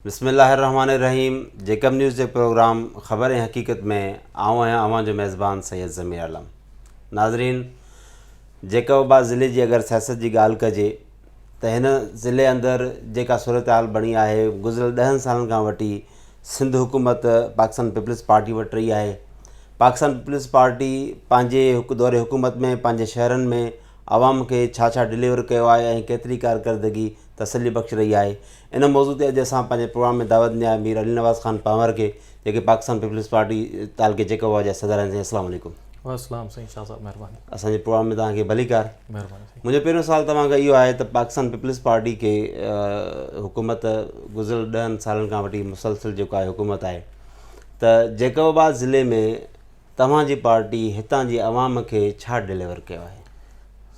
بسم الله الرحمٰن الرحيم جيڪب نيوز جي پروگرام خبر ۽ حقيقت ۾ آئون آهيان اوهان جو ميزبان سيد ضمير عالم ناظرين جيڪب آباد ضلعي جي اگر سياست جي ڳالهه ڪجي ته هن ضلعي اندر جيڪا صورتحال بڻي آهي گذريل ڏهن سالن کان وٺي سنڌ حڪومت پاڪستان پيپلز پارٽي وٽ رهي آهي پاڪستان پيپلز پارٽي پنهنجي دور حڪومت ۾ پنهنجي شهرن ۾ عوام کي ڇا ڇا ڊليور ڪيو آهي ۽ ڪيتري ڪارڪردگي تسلي بخش رهي آهي ان موضوع تي اڄ اسان پنهنجي پروگرام ۾ دعوت ڏني آهي مير علي نواز خان پنهور کي جيڪي پاڪستان پيپلز پارٽي تعلقي جيڪوبا جا صدر آهن سائين السلام عليڪم وعليڪم سائين شاهه صاحب مهرباني اسان جي پروگرام ۾ توهان کي ڀليڪار مهرباني سائين منهنجو پهريون سوال توهان کي اهو آهي ته پاڪستان پيپلز پارٽي کي حڪومت گذريل ڏهن سالن کان وٺي مسلسل جيڪو آهي حڪومت آهي ته جيڪوبا ضلعي ۾ توهان جي پارٽي هتان جي عوام کي ڇا ڊليور ڪيو آهي؟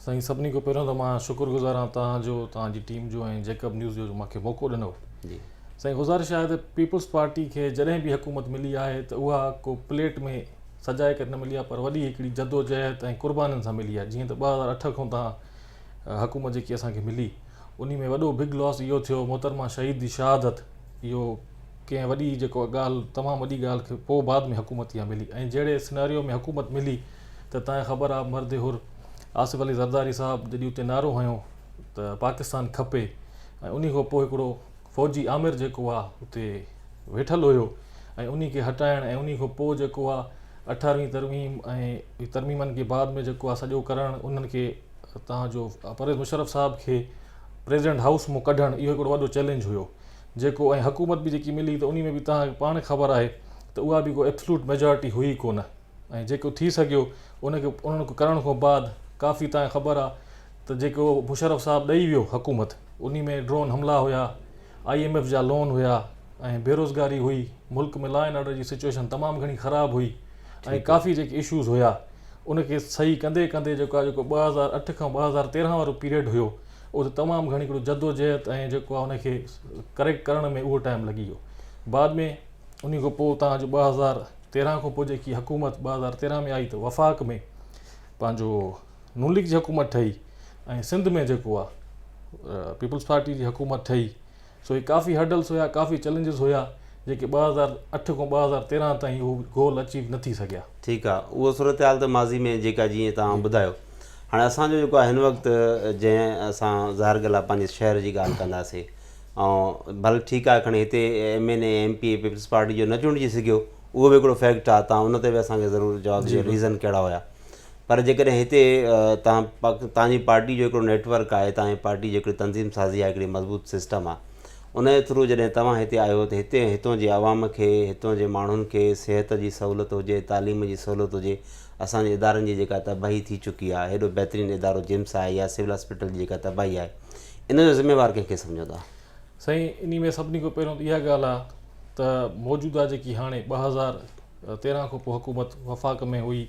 سائين سڀني کان پهريون ته مان شڪر گذار آهيان توهان جو توهان جي ٽيم جو ۽ جيڪب نيوز جو جو مونکي موقعو ڏنو جي سائين گذارش آهي ته پيپلز پارٽي کي جڏهن به حڪومت ملي آهي ته اها ڪو پليٽ ۾ سجائي ڪري نه ملي آهي پر وڏي هڪڙي جدوجهد ۽ قربانين سان ملي آهي جيئن ته ٻه هزار اٺ کان تان حڪومت جيڪي اسان کي ملي انهي ۾ وڏو بگ لاس اهو ٿيو محترمه شهيد جي شهادت اهو ڪنهن وڏي جيڪو ڳالهه تمام وڏي ڳالهه کي پوء بعد ۾ حڪومت يا ملي ۽ جهڙي سناريو ۾ حڪومت ملي ته تنهن خبر آ مرد حر آصف علي زرداري صاحب جڏي اتي نعرو هنيو ته پاڪستان کپي ۽ انهي کان پوء هڪڙو فوجي آمر جيڪو آ اتي ويٺل هيو ۽ انهي کي هٽائڻ ۽ انهي کان پوء جيڪو آ اٺارهوين ترميم ۽ ترميمن کي بعد ۾ جيڪو آ سڄو ڪرڻ انهن کي تنهن جو پرويز مشرف صاحب کي پريزيڊنٽ هائوس مون ڪڍڻ اهو هڪڙو وڏو چئلينج هيو جيڪو ۽ حڪومت به جيڪي ملي ته انهي ۾ به توهان کي پاڻ خبر آهي ته اها به ڪو ايبسلوٽ ميجارٽي هئي ئي ڪونه ۽ جيڪو ٿي سگهيو ان کي انهن کي ڪرڻ کان بعد ڪافي توهان کي خبر آهي ته جيڪو مشرف صاحب ڏئي ويو حڪومت انهي ۾ ڊرون حملا هيا آء ايم ايف جا لون هيا ۽ بيروزگاري هئي ملڪ ۾ لا اينڊ آرڊر جي سچوئيشن تمام گهڻي خراب هئي ۽ ڪافي جيڪي اشوز هيا ان کي صحيح ڪندي ڪندي جيڪو آهي جيڪو ٻه هزار اٺ کان ٻه هزار تيرهن وارو پيريڊ هيو اهو ته تمام گهڻي هڪڙو جدوجهد ۽ جيڪو آهي ان کي ڪريڪٽ ڪرڻ ۾ اهو ٽائيم لڳي ويو بعد ۾ انهي کان پوء اتان جو ٻه هزار تيرهن کان پوء جيڪي حڪومت ٻه هزار تيرهن ۾ آئي ته وفاق ۾ پنهنجو نون ليگ جي حڪومت ٺهي ۽ سنڌ ۾ جيڪو آهي پيپلز پارٽي جي حڪومت ٺهي سو هي ڪافي هرڊلس هيا، ڪافي چئلينجز هيا، جيڪي ٻه هزار اٺ کان ٻه هزار تيرنهن تائين هو گول اچيو نه ٿي سگهيا. ٺيڪ آ اهو صورتحال ته ماضي ۾ جيڪا جيئن توهان ٻڌايو هاڻي اسان جو جيڪو آ هن وقت جنهن اسان ظاهر ڳالهه آ پنهنجي شهر جي ڳالهه ڪنداسي ۽ ڀل ٺيڪ آ کڻي هتي M N A M P A Peoples Party جو نه چونڊجي سگهيو اهو به هڪڙو فيڪٽ آ توهان ان تي به اسان کي ضرور جواب ڏيو ريزن ڪهڙا هيا پر جيڪڏهن هتي تان تان جي پارٽي جو هڪڙو نيٽ ورڪ آهي تان جي پارٽي جي هڪڙي تنظيم سازي آهي هڪڙي مضبوط سسٽم آهي ان جي ٿرو جڏهن توهان هتي آهيو ته هتي هتون جي عوام کي هتون جي ماڻهن کي صحت جي سهولت هجي تعليم جي سهولت هجي اسان جي ادارن جي جيڪا تباهي ٿي چڪي آهي هيڏو بهترين ادارو جيمس آهي يا سول هاسپيٽل جي جيڪا تباهي آهي ان جو ذميوار ڪنهن کي سمجهو ٿا سائين انهي ۾ سڀني کان پهريون ته اها ڳالهه آهي ته موجوده جيڪي هاڻي ٻه هزار تيرهن کان پوء حڪومت وفاق ۾ هئي،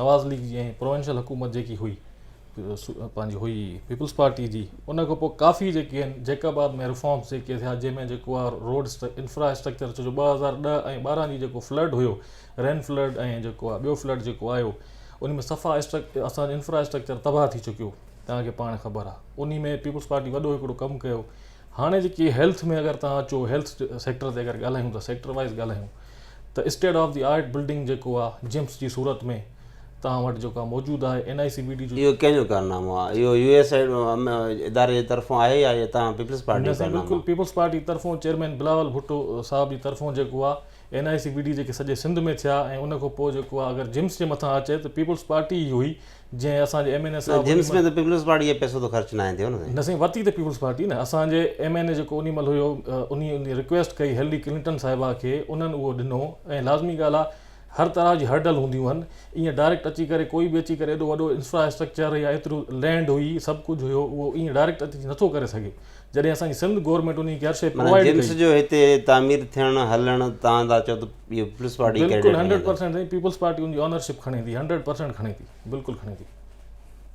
نواز ليگ جي ۽ پروونشل حڪومت جيڪي هئي پنهنجي هئي پيپلز پارٽي جي ان کان پوء ڪافي جيڪي آهن جيڪب آباد ۾ ريفارمز جيڪي ٿيا جنهن ۾ جيڪو آهي روڊ انفرا اسٽرڪچر ڇو جو ٻه هزار ڏهه ۽ ٻارهن جي جيڪو فلڊ هيو رين فلڊ ۽ جيڪو آهي ٻيو فلڊ جيڪو آيو ان ۾ صفا اسان جو انفرا اسٽرڪچر تباهه ٿي چڪيو تنهن کي پاڻ خبر آهي ان ۾ پيپلز پارٽي وڏو هڪڙو ڪم ڪيو هاڻي جيڪي هيلٿ ۾ اگر توهان اچو هيلٿ سيڪٽر تي اگر ڳالهايون ته سيڪٽر وائز ڳالهايون ته state of the art building جيڪو آ جمس جي صورت ۾ توهان وٽ جيڪو آ موجود آهي N I C B D جو اهو ڪنهن جو ڪارنامو آهي اهو يو ايس ايڊ اداري جي طرفون آهي يا اهو توهان پيپلز پارٽي جو ڪارنامو بلڪل پيپلز پارٽي طرفون چيئرمين بلاول ڀٽو صاحب جي طرفون جيڪو آ N I C B D جيڪي سڄي سنڌ ۾ ٿيا ۽ ان کان پوء جيڪو آ اگر جمس جي مٿان اچي ته پيپلز پارٽي ئي هئي جنهن اسان جي ايم اين اي صاحب جيمس ۾ ته پيپلز پارٽي جي پئسو ته خرچ ناهي ٿيو نه نه سائين ورتي ته پيپلز پارٽي نه اسان جي ايم اين اي جيڪو انهي مهل هيو انهي انهي رڪويسٽ ڪئي هيلري ڪلنٽن صاحبه کي انهن اهو ڏنو ۽ لازمي ڳالهه آ هر طرح جي هرڊل هونديون هن ايئن ڊائريڪٽ اچي ڪري ڪوئي به اچي ڪري ايڏو وڏو انفراسٽرڪچر يا ايترو لينڊ هئي سڀ ڪجهه هيو اهو ايئن ڊائريڪٽ اچي نٿو ڪري سگهي جڏهن اسان جي سنڌ گورمينٽ انهي کي هر شئي معنيٰ پرووائيڊ جيمس ڪئي جو هتي تعمير ٿيڻ هلڻ تهان ٿا چئو ته پيپلز پارٽي ڪريڊٽ بلڪل کڻي هنڊريڊ ٿو پرسينٽ سائين پيپلز پارٽي ان جي اونرشپ کڻي ٿي هنڊريڊ پرسينٽ کڻي ٿي بلڪل کڻي ٿي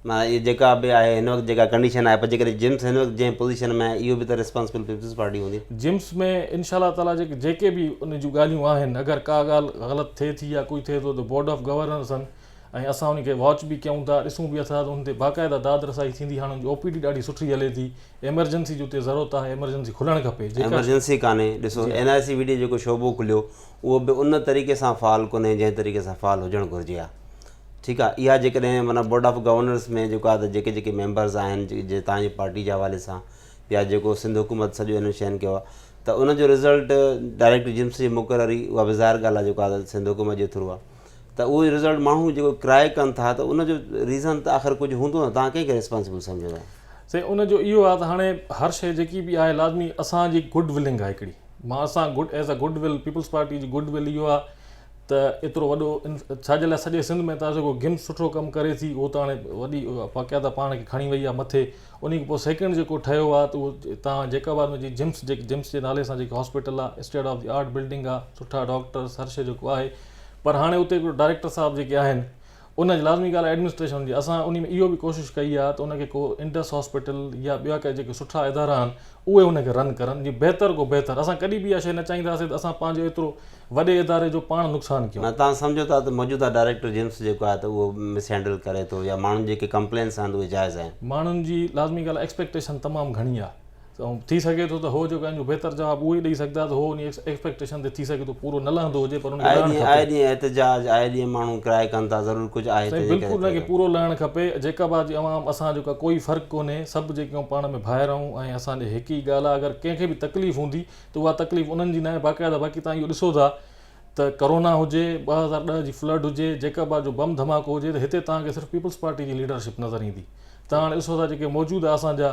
معنيٰ اهي جيڪا به آهي هن وقت جيڪا ڪنڊيشن آهي پر جيڪڏهن جيمس هن وقت جنهن پوزيشن ۾ آهي اهو به ته ريسپانسبل پيپلز پارٽي هوندي جيمس ۾ انشاء الله تعاليٰ جيڪي جيڪي به ان جون ڳالهيون آهن اگر ڪا ڳالهه غلط ٿئي ٿي يا ڪجهه ٿئي ٿو ته بورڊ آف گورنرس آهن ۽ اسان انهن کي واچ به ڪيون ٿا ڏسون به اٿا ته انهن تي باقاعده داد رسائي ٿيندي هاڻ ان جي او پي ڊي ڏاڍي سٺي هلي ٿي ايمرجنسي جي اتي ضرورت آهي ايمرجنسي کلڻ کپي جيڪا ايمرجنسي ڪانهي ڏسو N I C V D جيڪو شعبو کليو اهو به ان طريقي سان فعال ڪونهي جنهن طريقي سان فعال هجڻ گهرجي ها ٺيڪ آهي اها جيڪڏهن معنيٰ بورڊ آف گورنرس ۾ جيڪو آهي ته جيڪي جيڪي ميمبرز آهن جي تانجي پارٽي جي حوالي سان يا جيڪو سنڌ حڪومت سڄو انهن شين کي ته ان جو رزلٽ ڊائريڪٽ جيمس جي مقرري اها به ظاهر ڳالهه آهي جيڪو آهي سنڌ حڪومت جي ٿرو آهي ته اهو رزلٽ ماڻهو جيڪو ڪرائي ڪن ٿا ته ان جو ريزن ته آخر ڪجهه هوندو نه توهان ڪنهن کي ريسپانسبل سمجهو ٿا؟ سائين ان جو اهو آهي ته هاڻي هر شيء جيڪي به آهي لازمي اسان جي گڊ ولنگ آهي هڪڙي مان اسان good as a good will Peoples Party جي گڊ ول اهو آهي ته ايترو وڏو ڇا جي لاء سڄي سنڌ ۾ تازو ڪو گيم سٺو ڪم ڪري ٿي اهو ته هاڻي وڏي واقعا ته پاڻ کي کڻي وئي آهي مٿي ان کان پوء سيڪنڊ جيڪو ٺهيو آهي ته اهو تان جيڪاباد ۾ جي جمس جي جمس جي نالي سان جيڪي هاسپيٽل آهي state of the art building آهي سٺا ڊاڪٽرس هر شيء جيڪو آهي پر هاڻي اتي هڪڙو ڊائريڪٽر صاحب جيڪي آهن ان جي لازمي ڳالهه آهي ايڊمنسٽريشن هجي اسان انهي ۾ اهو به ڪوشش ڪئي آهي ته ان کي ڪو انڊس هاسپيٽل يا ٻيا ڪا جيڪي سٺا ادارا آهن اهي ان کي رن ڪرن جي بهتر کو بهتر اسان ڪڏهن به اها شيء نه چاهينداسين ته اسان پنهنجو ايترو وڏي اداري جو پاڻ نقصان ڪيون. توهان سمجهو ٿا ته موجوده ڊائريڪٽر جيمس جيڪو آهي ته اهو مس هينڊل ڪري ٿو يا ماڻهن جي جيڪي ڪمپلينس آهن اهي جائز آهن. ماڻهن جي لازمي ڳالهه آهي ايڪسپيڪٽيشن تمام گهڻي آهي ته ٿي سگهي ٿو ته هو جيڪو انجو بهتر جواب اهو ئي ڏئي سگهدا ته هو انهي ايڪسپيڪٽيشن تي ٿي سگهي ٿو پورو نه لهندو هجي پر انکي لهڻ کپي. آئي ڏينهن احتجاج آئي ڏينهن ماڻهو ڪرائي ڪن ٿا ضرور ڪجهه آهي سائين بلڪل انکي پورو لهڻ کپي جيڪب آ جي عوام اسان جو ڪوئي فرق ڪونهي سڀ جيڪي آهيون پاڻ ۾ ڀائر آهيون ۽ اسان جي هڪ ئي ڳالهه آهي اگر ڪنهن کي به تڪليف هوندي ته اها تڪليف انهن جي ناهي باقاعده باقي تهان اهو ڏسو ٿا ته ڪورونا هجي، ٻه هزار ڏهه جي فلڊ هجي، جيڪب آ جو بم ڌماڪو هجي ته هتي توهان کي صرف پيپلز پارٽي جي ليڊرشپ نظر ايندي. ته هاڻي ڏسو ٿا جيڪي موجوده اسان جا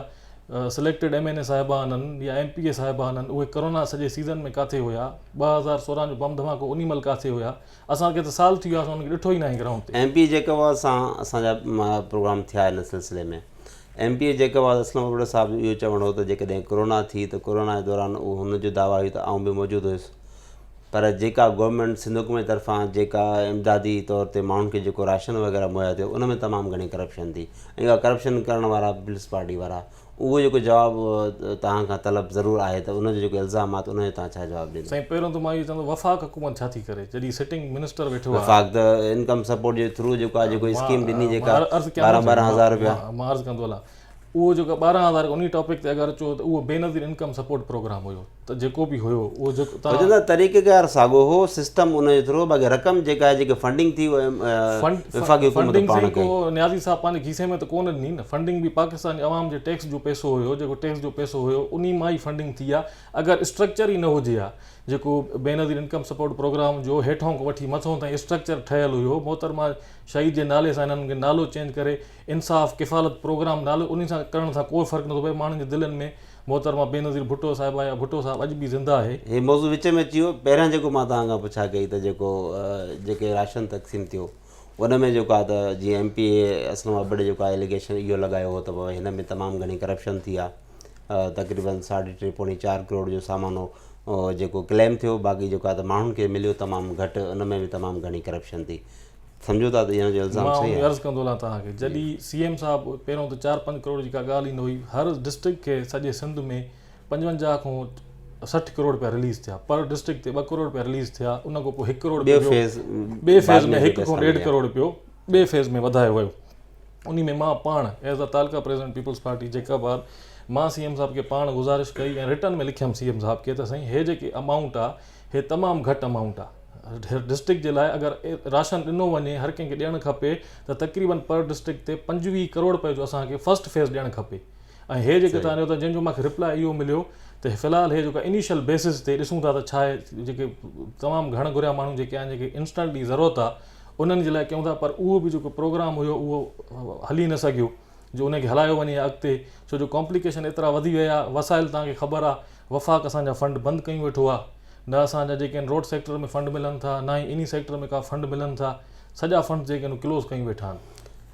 سليڪٽيڊ ايم اين اي صاحبان هن يا ايم پي اي صاحبان هن اهي ڪورونا سڄي سيزن ۾ ڪاٿي هيا، ٻه هزار سورهن جو بم ڌماڪو انهي مهل ڪاٿي هيا، اسان کي ته سال ٿي ويا اسان انهن کي ڏٺو ئي ناهي گرائونڊ تي. M P A Jacobabad سان اسان جا پروگرام ٿيا ان سلسلي ۾ M P A Jacobabad Aslam Abro صاحب جو اهو چوڻ هو ته جيڪڏهن ڪورونا ٿي ته ڪورونا جي دوران هن جو دعويٰ هيو ته آئون به موجود هيس پر جيڪا گورنمينٽ سنڌ حڪومت طرفان جيڪا امدادي طور تي ماڻهن کي جيڪو راشن وغيره مهيا ٿيو ان ۾ تمام گهڻي ڪرپشن ٿي ۽ اها ڪرپشن ڪرڻ وارا پيپلز پارٽي وارا اهو جيڪو جواب تهان کان طلب ضرور آهي ته ان جو جيڪو الزام آهي ته ان جو تهان ڇا جواب ڏيندا؟ سائين پهريون ته مان اهو چوندس وفاق حڪومت ڇا ٿي ڪري جڏهن سٽنگ منسٽر ويٺو آهي. وفاق ته انڪم سپورٽ جي ٿرو جيڪو آهي جيڪو اسڪيم ڏني جيڪا ٻارهن ٻارهن هزار روپيا. مان عرض ڪندو هلان. اهو جيڪو ٻارهن هزار انهي ٽاپڪ تي اگر چئو ته اهو بينظير انڪم سپورٽ پروگرام هيو ته جيڪو به هيو اهو جيڪو تان وجهه ته طريقه ڪار ساڳو هو سسٽم ان جو ٿرو باقي رقم جيڪا آهي جيڪي فنڊنگ ٿي وفاقي حڪومت پاڻ ڪئي نيازي صاحب پنهنجي کيسي ۾ ته ڪونه ڏني نه فنڊنگ به پاڪستاني عوام جي ٽيڪس جو پئسو هيو جيڪو ٽيڪس جو پئسو هيو انهي مان ئي فنڊنگ ٿي آهي اگر اسٽرڪچر ئي نه هجي ها جيڪو بينظير انڪم سپورٽ پروگرام جو هيٺون کان وٺي مٿو تائين اسٽرڪچر ٺهيل هيو محترمه شهيد جي نالي سان هنن کي نالو چينج ڪري انصاف ڪفالت پروگرام نالو انهي سان ڪرڻ سان ڪو فرق نٿو پوي ماڻهن جي دلين ۾ محترمه بينظير ڀٽو صاحبه يا ڀٽو صاحب اڄ به زنده آهي. هي موضوع وچ ۾ اچي ويو پهريان جيڪو مان توهان کان پڇا ڪئي ته جيڪو جيڪي راشن تقسيم ٿيو ان ۾ جيڪو آهي ته جيئن ايم پي اي اسلم ابڙي جيڪو آهي اليگيشن اهو لڳايو هو ته بابا هن ۾ تمام گهڻي ڪرپشن ٿي آهي تقريبن ساڍي ٽي پوڻي چار ڪروڙ جو سامان هو جيڪو ڪليم ٿيو باقي جيڪو آهي ته ماڻهن کي مليو تمام گهٽ ان ۾ به تمام گهڻي ڪرپشن ٿي سمجهو ٿا ته اهو الزام صحيح آهي؟ مان عرض ڪندو هلان توهان کي جڏهن سي ايم صاحب پهريون ته چار پنج ڪروڙ جي ڪا ڳالهه ئي نه هئي هر ڊسٽرڪٽ کي سڄي سنڌ ۾ پنجونجاهه کون سٺ ڪروڙ رپيا رليز ٿيا پر ڊسٽرڪٽ تي ٻه ڪروڙ رپيا رليز ٿيا ان کان پوء هڪ ڪروڙ ٻي فيز ٻي فيز ۾ هڪ کون ڏيڍ ڪروڙ رپيو ٻي فيز ۾ وڌايو ويو ان ۾ مان پاڻ ايز ا تعلقه president Peoples Party Jacobabad مان سي ايم صاحب کي پاڻ گذارش ڪئي ۽ رٽن ۾ لکيم سي ايم صاحب کي ته سائين هي جيڪي امائونٽ آهي هي تمام گهٽ امائونٽ آهي ڊسٽرڪٽ جي لاء اگر راشن ڏنو وڃي هر ڪنهن کي ڏيڻ کپي ته تقريبن پر ڊسٽرڪٽ تي پنجويهه ڪروڙ رپئي جو اسان کي فرسٽ فيز ڏيڻ کپي ۽ هي جيڪي تان جو جن جو مونکي ريپلاء اهو مليو ته في الحال هي جيڪو انيشل بيسز تي ڏسون ٿا ته ڇا آهي جيڪي تمام گهڻ گهريا ماڻهو جيڪي آهن جيڪي انسٽنٽلي ضرورت آهي انهن جي لاء ڪيون ٿا پر اهو به جيڪو پروگرام هيو اهو هلي نه سگهيو جو ان کي هلايو وڃي ها اڳتي ڇو جو ڪامپليڪيشن ايترا وڌي ويا آهي وسائل توهان کي خبر آهي وفاق اسان جا فنڊ بند ڪيون ويٺو آهي نه اسان جا جيڪي آهن روڊ سيڪٽر ۾ فنڊ ملن ٿا نه ئي انهي سيڪٽر ۾ ڪا فنڊ ملن ٿا سڄا فنڊ جيڪي آهن ڪلوز ڪيون ويٺا آهن.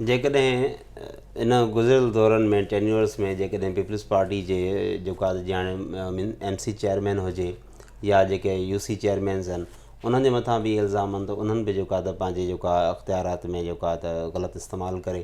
جيڪڏهن ان گذريل دورن ۾ ٽينيورس ۾ جيڪڏهن پيپلز پارٽي جي جيڪا جياڻي ايم سي چيئرمين هجي يا جيڪي يو سي چيئرمينز آهن انهن جي مٿان به الزام آهن ته انهن به جيڪا ته پنهنجي جيڪا اختيارات ۾ جيڪا ته غلط استعمال ڪري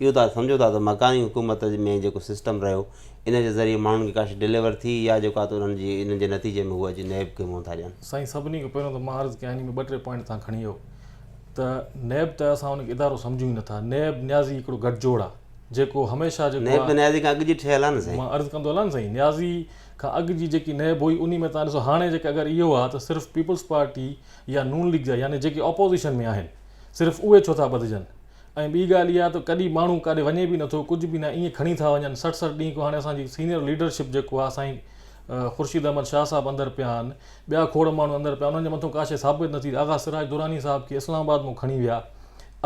اهو توهان سمجهو ٿا ته مڪاني حڪومت ۾ جيڪو سسٽم رهيو ان جي ذريعي ماڻهن کي ڪاشي ڊليور ٿي يا جيڪو آهي ته انهن جي انهن جي نتيجي ۾ هو اچي نيب کي منهن ٿا ڏين. سائين سڀني کان پهريون ته مان عرض ڪيان انهي ۾ ٻه ٽي پوائنٽ توهان کڻي آيو ته نيب ته اسان ان کي ادارو سمجهون ئي نٿا نيب نيازي هڪڙو گٺجوڙ آهي جيڪو هميشه جيڪو نيب ته نيازي کان اڳ جي ٺهيل آهي نه سائين. مان عرض ڪندو هلان نه سائين نيازي کان اڳ جي جيڪي نيب هئي انهي ۾ توهان ڏسو هاڻي جيڪي اگر اهو آهي ته صرف پيپلز پارٽي يا نون ليگ جا يعني جيڪي اپوزيشن ۾ آهن صرف اهي ڇو ٿا ٻڌجن ۽ ٻي ڳالهه اها ته ڪڏهن ماڻهو ڪاڏي وڃي به نٿو ڪجهه به نه ايئن کڻي ٿا وڃن سٺ سٺ ڏينهن کان هاڻي اسان جي سينئر ليڊرشپ جيڪو آهي سائين خورشيد احمد شاهه صاحب اندر پيا آهن ٻيا کوڙ ماڻهو اندر پيا انهن جي مٿو ڪاشي ثابت نه ٿي آغا سراج دراني صاحب کي اسلام آباد مون کڻي ويا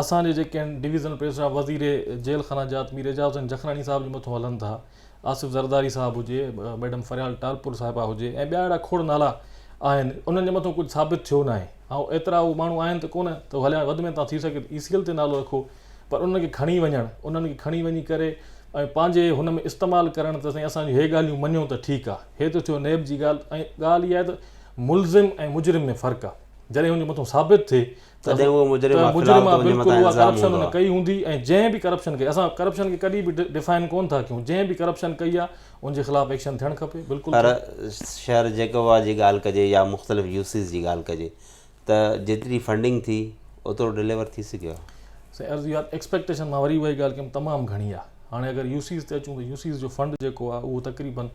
اسان جي جيڪي آهن ڊويزنل پريس اسٽاف وزير جيل خانه جات مير اعجاز حسين جکراڻي صاحب جي مٿو هلن ٿا آصف زرداري صاحب هجي، ميڊم فريال ٽالپر صاحبه هجي ۽ ٻيا اهڙا کوڙ نالا آهن، انهن جي مٿو ڪجهه ثابت ٿيو ناهي. هائو، ايترا اهي ماڻهو آهن ته ڪونه ته هو هليا وڌ ۾ توهان ٿي سگهي ته اي سي ايل تي نالو رکو، پر انهن کي کڻي وڃڻ، انهن کي کڻي وڃي ڪري ۽ پنهنجي هن ۾ استعمال ڪرڻ ته سائين اسان جون هي ڳالهيون مڃو ته ٺيڪ آ. هي ته ٿيو نيب جي ڳالهه ۽ ڳالهه اها آهي ته ملزم ۽ مجرم ۾ فرق آ. جڏهن هن جي مٿو ثابت ٿئي تڏهن اهو مجرم آهي خلال ته ان جي مٿان الزام هوندو آهي. ڪئي هوندي ۽ جنهن به ڪرپشن ڪئي اسان ڪرپشن کي ڪڏهن به ڊفائن ڪون ٿا ڪيون جنهن به ڪرپشن ڪئي آهي ان جي خلاف ايڪشن ٿيڻ کپي بلڪل پر شهر جيڪوبا جي ڳالهه ڪجي يا مختلف يو سيز جي ڳالهه ڪجي ته جيتري فنڊنگ ٿي اوترو ڊليور ٿي سگهيو آهي. سائين عرض اها ته ايڪسپيڪٽيشن مان وري اهائي ڳالهه ڪيم تمام گهڻي آهي هاڻي اگر يو سيز تي اچون ته يو سيز جو فنڊ جيڪو آهي اهو تقريبن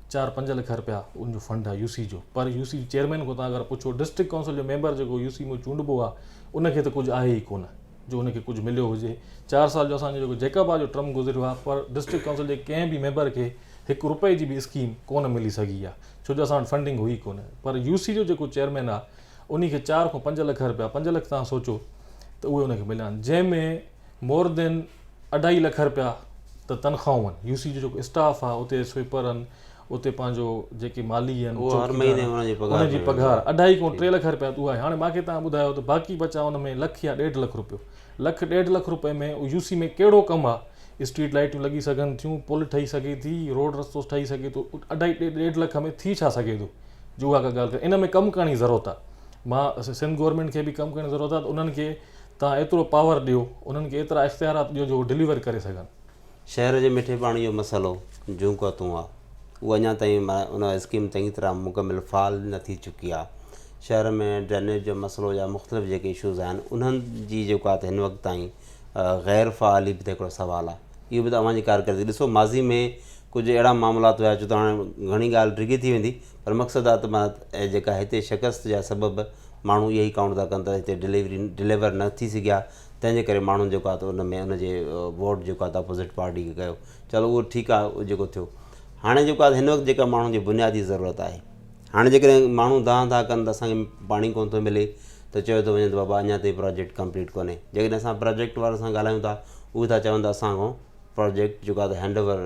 چار پنج لک رپيا ان جو فنڊ آ يو سي جو پر يو سي جي چيئرمين کان تان اگر پڇو ڊسٽرڪٽ ڪائونسل جو ميمبر جيڪو يو سي مون چونڊبو آ ان کي ته ڪجھ آھي ئي ڪونه جو ان کي ڪجھ مليو ھجي چار سال جو اسان جو جيڪو جيڪب آ جو ٽرم گذريو آ پر ڊسٽرڪٽ ڪائونسل جي ڪنھن به ميمبر کي ھڪ رپئي جي به اسڪيم ڪونه ملي سگھي آ ڇو جو اسان وٽ فنڊنگ ھئي ڪونه پر يو سي جو جيڪو چيئرمين آ انھي کي چار کان پنج لک رپيا پنج لک تان سوچو ته اھي ان کي مليا آھن جنھن ۾ مور دين اڍائي لک رپيا ته تنخواهون آهن يو سي جو جيڪو اسٽاف آهي اتي سوئپر آهن اتي پنهنجو جيڪي مالي آهن اهو هر مهيني انهن جي پگهار انهن جي پگهار اڍائي کان ٽي لک رپيا اها آهي هاڻي ماکي تان ٻڌايو ته باقي بچا ان ۾ لک يا ڏيڍ لک رپيو لک ڏيڍ لک رپئي ۾ يو سي ۾ ڪهڙو ڪم آهي اسٽريٽ لائيٽون لڳي سگهن ٿيون پل ٺهي سگهي ٿي روڊ رستو ٺهي سگهي ٿو اڍائي ڏيڍ لک ۾ ٿي ڇا سگهي ٿو جو اها ڪا ڳالهه ڪري ان ۾ ڪم ڪرڻ جي ضرورت آهي مان سنڌ گورنمينٽ کي به ڪم ڪرڻ جي ضرورت آهي ته انهن کي توهان ايترو پاور ڏيو، انهن کي ايترا اختيارات ڏيو جو هو ڊليور ڪري سگهن. شهر جي مٺي پاڻي جو مسئلو جون ڪا تون آ، اها اڃا تائين ان اسڪيم چڱي طرح مڪمل فعال نه ٿي چڪي آ. شهر ۾ ڊرينيج جو مسئلو يا مختلف جيڪي اشوز آهن انهن جي جيڪو آ ته هن وقت تائين غير فعالي به ته هڪڙو سوال آ. اهو به ته اوهان جي ڪارڪردگي ڏسو ماضي ۾ ڪجهه اهڙا معاملات هيا ڇو ته هاڻي گهڻي ڳالهه ڊگهي ٿي ويندي. پر مقصد آ ته معنيٰ ته جيڪا هتي شڪست جا سبب ماڻهو اهي ئي ڪائونٽ ٿا ڪن ته هتي ڊليوري ڊليور نه ٿي سگهيا تنهن جي ڪري ماڻهن جيڪو آ ته ان ۾ ان جي ووٽ جيڪو آ ته اپوزٽ پارٽي کي ڪيو چلو اهو ٺيڪ آ جيڪو ٿيو هاڻي جيڪو آ ته هن وقت جيڪا ماڻهن جي بنيادي ضرورت آهي هاڻي جيڪڏهن ماڻهو دانهن ٿا ڪن ته اسانکي پاڻي ڪونه ٿو ملي ته چيو ٿو وڃي ته بابا اڃا تائين پراجيڪٽ ڪمپليٽ ڪونهي جيڪڏهن اسان پراجيڪٽ وارن سان ڳالهايون ٿا اهي ٿا چون ته اسانکو پروجيڪٽ جيڪو آهي هينڊ اوور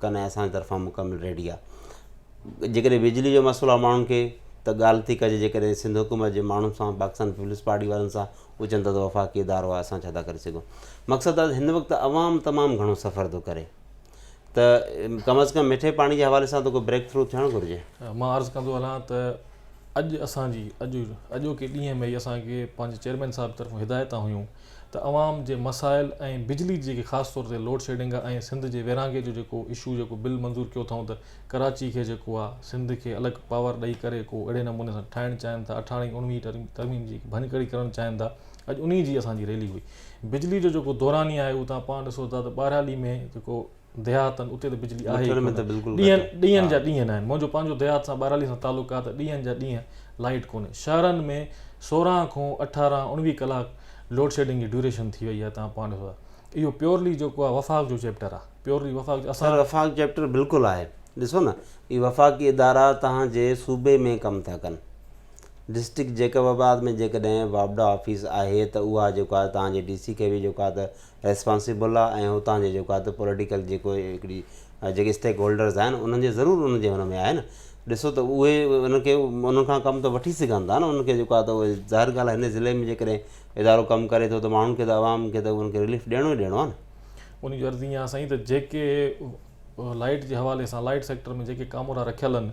ڪن ۽ اسان جي طرفان مڪمل ريڊي آهي جيڪڏهن بجلي جو مسئلو آهي ماڻهن کي ته ڳالهه ٿي ڪجي جيڪڏهن سنڌ حڪومت جي ماڻهن سان پاڪستان پيپلز پارٽي وارن سان هو چون ٿا وفاقي ادارو آهي اسان ڇا ٿا ڪري سگهون مقصد آهي هن وقت عوام تمام گهڻو سفر ٿو ڪري ته ڪم از ڪم مٺي پاڻي جي حوالي سان ته ڪو بريڪ ٿرو ٿيڻ گهرجي مان عرض ڪندو هلان ته اڄ اسان جي اڄ اڄوڪي ڏينهن ۾ اسان کي پنهنجي چيئرمين صاحب طرفون هدايتون هيون ته عوام جي مسائل ۽ بجلي جي جيڪي خاص طور تي لوڊ شيڊنگ آ ۽ سنڌ جي ويرانگي جو جيڪو اشو جيڪو بل منظور ڪيو اٿئون ته ڪراچي کي جيڪو آ سنڌ کي الڳ پاور ڏئي ڪري ڪو اھڙي نموني سان ٺاھڻ چاھين ٿا اٺارھين ۽ اڻويھين ترميم جي ڀڃڪڙي ڪرڻ چاھين ٿا اڄ انھي جي اسان جي ريلي ھئي بجلي جو جيڪو دوراني آھي اھو تھان پاڻ ڏسو ٿا ته ٻھرالي ۾ جيڪو ديهات آهن اتي ته بجلي آهي ئي ڪونه ڏينهن ڏينهن جا ڏينهن آهن منهنجو پنهنجو ديهات سان ٻهرالي سان تعلق آهي ته ڏينهن جا ڏينهن لائيٽ ڪونهي شهرن ۾ سورهن کون اٺارهن اوڻويهه ڪلاڪ لوڊ شيڊنگ جي ڊيوريشن ٿي وئي آهي تان پوائنٽ ڏسو اهو پيورلي جيڪو آهي وفاق جو چيپٽر آهي پيورلي وفاق اسان وفاق چيپٽر بلڪل آهي ڏسو نه هي وفاقي ادارا توهان جي صوبي ۾ ڪم ٿا ڪن ڊسٽرڪٽ جيڪب آباد ۾ جيڪڏهن واپڊا آفيس آهي ته اها جيڪو آهي توهان جي ڊي سي کي به جيڪو آهي ته ريسپانسيبل آ ۽ اتان جي جيڪو آ ته پوليٽيڪل جيڪو هڪڙي جيڪي اسٽيڪ هولڊرز آهن انهن جي ضرور انهن جي هن ۾ آهي نه ڏسو ته اهي انهن کي انهن کان ڪم ته وٺي سگهن ٿا نه انهن کي جيڪو آ ته اهي ظاهر ڳالهه آ هن ضلعي ۾ جيڪڏهن ادارو ڪم ڪري ٿو ته ماڻهن کي ته عوام کي ته انهن کي رليف ڏيڻو ئي ڏيڻو آ نه انهن جي عرض ايئن آ سائين ته جيڪي لائيٽ جي حوالي سان لائيٽ سيڪٽر ۾ جيڪي ڪامورا رکيل ان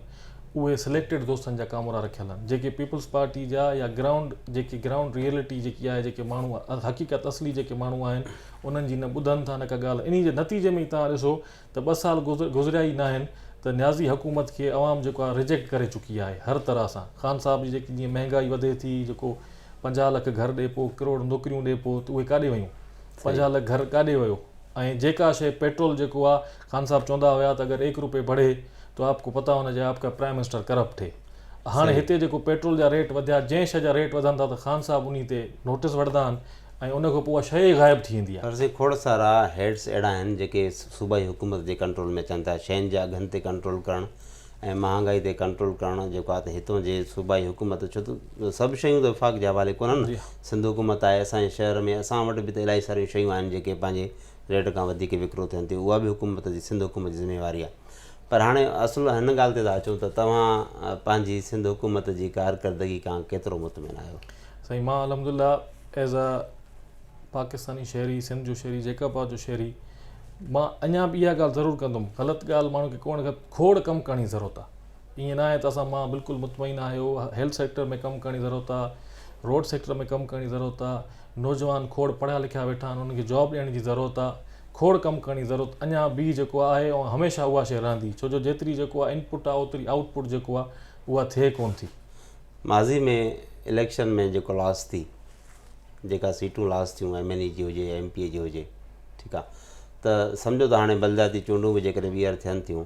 اهي سليڪٽيڊ دوستن جا ڪامورا رکيل ان جيڪي پيپلز پارٽي جا يا گرائونڊ جيڪي گرائونڊ ريئلٽي جيڪي آهي جيڪي ماڻهو حقيقت اصلي جيڪي ماڻهو آهن انهن جي نه ٻڌن ٿا نه ڪا ڳالهه انهي جي نتيجي ۾ ئي توهان ڏسو ته ٻه سال گذريا ئي ناهن ته نيازي حڪومت کي عوام جيڪو آهي ريجيڪٽ ڪري چڪي آهي هر طرح سان خان صاحب جي جيڪي جيئن مهنگائي وڌي ٿي جيڪو پنجاهه لک گهر ڏي پو ڪروڙ نوڪريون ڏي پو ته اهي ڪاڏي ويون پنجاهه لک گهر ڪاڏي ويو ۽ جيڪا شيء پيٽرول جيڪو آ خان صاحب چوندا هيا ته اگر ايڪ روپي بڙهي تو آپ ڪو پتا هونا چاهي آپ ڪا پرائم منسٽر ڪرپٽ هي هاڻي صحيح. هتي جيڪو پيٽرول جا ريٽ وڌيا جنهن شيء جا ريٽ وڌن ٿا ته خان صاحب انهي تي نوٽس وٺدا آهن ۽ ان کان پوء اها شيء ئي غائب ٿي ويندي آ. پر سائين کوڙ سارا هيڊس اهڙا آهن جيڪي صوبائي حڪومت جي ڪنٽرول ۾ اچن ٿا شين جي اگهن تي ڪنٽرول ڪرڻ ۽ مهانگائي تي ڪنٽرول ڪرڻ جيڪو آهي ته هتون جي صوبائي حڪومت ڇو ته سڀ شيون ته وفاق جي حوالي ڪونهن سنڌ حڪومت آهي اسان جي شهر ۾ اسان وٽ به ته الاهي ساريون شيون آهن جيڪي پنهنجي ريٽ کان وڌيڪ وڪرو ٿين ٿيون اها به حڪومت جي سنڌ حڪومت جي ذميواري آهي پر هاڻي اصل هن ڳالهه تي ٿا اچون ته توهان پنهنجي سنڌ حڪومت جي ڪارڪردگي کان ڪيترو مطمئن آهيو سائين مان الحمد لله ایز اے پاڪستاني شهري سنڌ جو شهري جيڪب آباد جو شهري مان اڃا به اها ڳالهه ضرور ڪندم غلط ڳالهه ماڻهو کي ڪونه کوڙ ڪم ڪرڻ جي ضرورت آ ايئن ناهي ته اسان مان بلڪل مطمئن آهيو هيلٿ سيڪٽر ۾ ڪم ڪرڻ جي ضرورت آ روڊ سيڪٽر ۾ ڪم ڪرڻ جي ضرورت آ نوجوان کوڙ پڙهيا لکيا ويٺا آهن انهن کي جاب ڏيڻ جي ضرورت آ کوڙ ڪم ڪرڻ جي ضرورت اڃا به جيڪو آهي ۽ هميشه اها شيء رهندي ڇو جو جيتري جيڪو آ انپٽ آ اوتري آئوٽ پٽ جيڪو آ اها ٿئي ڪون ٿي ماضي ۾ اليڪشن ۾ جيڪو لاس ٿي جيڪا سيٽون لاس ٿيون ايم اين اي جي هجي يا ايم پي اي جي هجي ٺيڪ آ ته سمجهو ته هاڻي بلدياتي چونڊون به جيڪڏهن ٻيهر ٿين ٿيون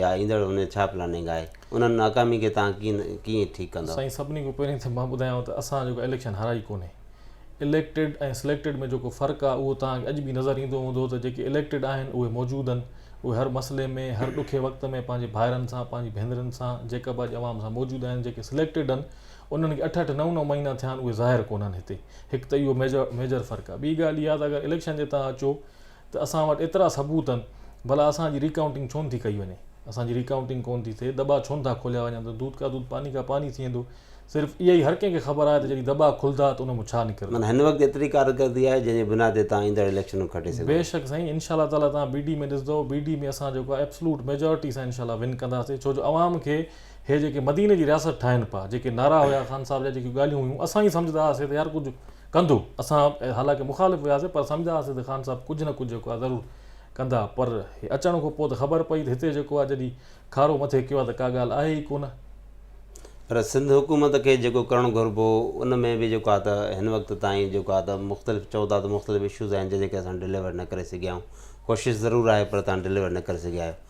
يا ايندڙ ان جو ڇا پلاننگ آهي؟ انهن ناڪامين کي توهان ڪيئن ڪيئن ٺيڪ ڪندؤ؟ سائين سڀني کان پهرين ته مان ٻڌايانو ته اسان جيڪو اليڪشن هارائي ڪونهي. اليڪٽيڊ ۽ سليڪٽيڊ ۾ جيڪو فرق آهي اهو توهان کي اڄ به نظر ايندو هوندو ته جيڪي اليڪٽيڊ آهن اهي موجود اهن اهي هر مسئلي ۾ هر ڏکي وقت ۾ پنهنجي ڀائرن سان پنهنجي ڀينرن سان جيڪب جي عوام سان موجود آهن جيڪي سليڪٽيڊ اهن انهن کي اٺ اٺ نو نو مهينا ٿيا آهن اهي ظاهر ڪونهن هتي هڪ ته اهو ميجر فرق آهي ٻي ڳالهه اها ته اگر اليڪشن جي تان اچو ته اسان وٽ ايترا ثبوت آهن ڀلا اسان جي ريڪائونٽنگ ڇو نٿي ڪئي وڃي اسان جي ريڪائونٽنگ ڪونه ٿي ٿئي دٻا ڇو نٿا کوليا وڃن ته دود ڪا دود پاني ڪا پاني ٿي ويندو صرف اهائي هر ڪنهن کي خبر آهي ته جڏهن دٻا کلندا ته ان مان ڇا نڪرندو. معنيٰ هن وقت ايتري ڪارڪردي آهي جنهن جي بنا تي تان ايندڙ اليڪشنون کٽي سگهو ٿا. بيشڪ سائين انشاء الله تعالٰي تان بي ڊي ۾ ڏسندو بي ڊي ۾ اسان جيڪو آهي ايبسلوٽ ميجارٽي سان انشاء الله ون ڪنداسين ڇو جو عوام کي هي جيڪي مديني جي رياست ٺاهين پيا جيڪي نعرا هيا خان صاحب جا جيڪي ڳالهيون هيون اسان ائين سمجهدا هئاسين ته يار ڪجهه ڪندو اسان حالانڪه مخالف هياسين پر سمجهدا هئاسين ته خان صاحب ڪجهه نه ڪجهه جيڪو آهي ضرور ڪندا پر هي اچڻ کان پوء ته خبر پئي ته هتي جيڪو آهي جڏهن کارو مٿي ڪيو آهي ته ڪا ڳالهه آهي ئي ڪونه. پر سنڌ حڪومت کي جيڪو ڪرڻ گهربو ان ۾ به جيڪو آهي ته هن وقت تائين جيڪو آهي ته مختلف چئو ٿا ته مختلف اشوز آهن جنهن جي ڪري اسان ڊليور نه ڪري سگهيا آهيون ڪوشش ضرور آهي پر تان ڊليور نه ڪري سگهيا آهيو.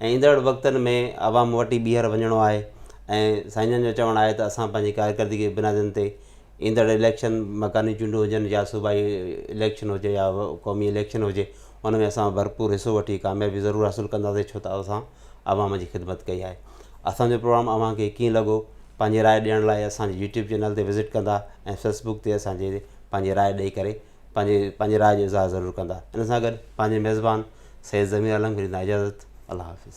۽ ايندڙ وقتن ۾ عوام وٽ ئي ٻيهر وڃڻو آهي ۽ سائين جن جو چوڻ آهي ته اسان پنهنجي ڪارڪردگي جي بنادن تي ايندڙ اليڪشن مڪاني چونڊون هجن يا صوبائي اليڪشن هجي يا قومي اليڪشن هجي ان ۾ اسان ڀرپور حصو وٺي ڪاميابي ضرور حاصل ڪنداسين ڇو ته اسان عوام جي خدمت ڪئي آهي اسانجو پروگرام اوهان کي ڪيئن لڳو پنهنجي راء ڏيڻ لاء اسانجي يوٽيوب چينل تي وزٽ ڪندا ۽ فيسبوڪ تي اسانجي پنهنجي راء ڏئي ڪري پنهنجي پنهنجي راء جو اظهار ضرور ڪندا ان سان گڏ پنهنجي ميزبان سيد ضمير عالم کي ڏيندا اجازت الله حافظ